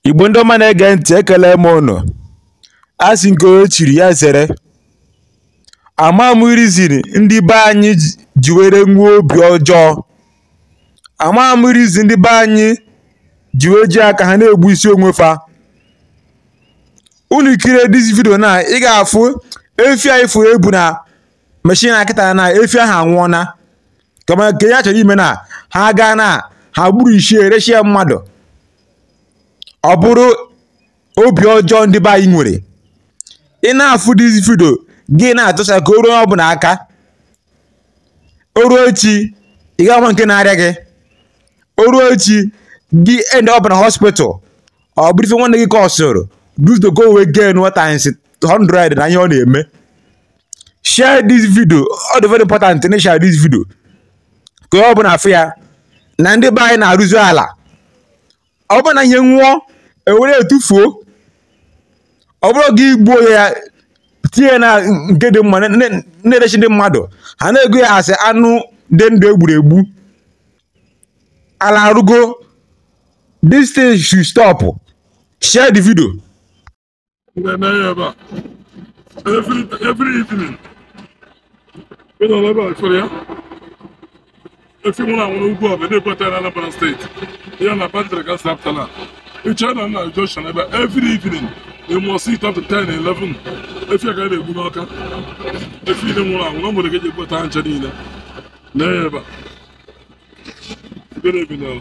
igbo ndị ọma na-ege ntị ekele m ụnụ a sị nke onye chiri ya zere ama m reason ndị be anyị ji were nwee obi ọjọọ ama m reason ndị be anyị ji wee ji aka ha na-egbu isi onwe fa unu kirie this video na ị ga-afụ efi a ị fụrụ e bu na machine a kịta na efi ahụ anwụọna kama nke ya chọrọ ime na ha gaa na ha gburu isi rechie mmadụ ọ bụrụ obi ọjọọ ndị be anyị nwere ị na-afụ this video gị na-atụsa ka o ruo ọbụla aka o ruo echi ị ga-ama nke na-arịa gị o ruo echi gị end up na hospital ọ bụrụ ife nwanne gị cause-ụrụ just ka o wee gain what times 100 na ihe ọ na-eme share this video ọ dị very important na share this video ka onye ọbụna fụ ya na ndị be anyị na-arụzi ala ọ bụ na ihe nwụọ ewere etufuo ọ bụrụ gị egbuo ya tie na nke dị mma na-erechi ndị mmadụ ha na-ego ya asị anụ dị ndụ egburu egbu ala arụgo this thing should stop share the video n'ahịa ebe a every evening ị nọ n'ebe a chọrọ ya efi nwụrụ anwụ n'ugwu ọ bụ ebe a na-ebute na Anambra state ya na bandịrị ka si apụta na ịchọ na nna Joshua n'ebe a every evening you must sit up to 10 11 efi ka a na-egbu n'Ọka efi niile nwụrụ anwụ na o nwere ka eji ebutacha niile n'ahịa ebe a Good evening.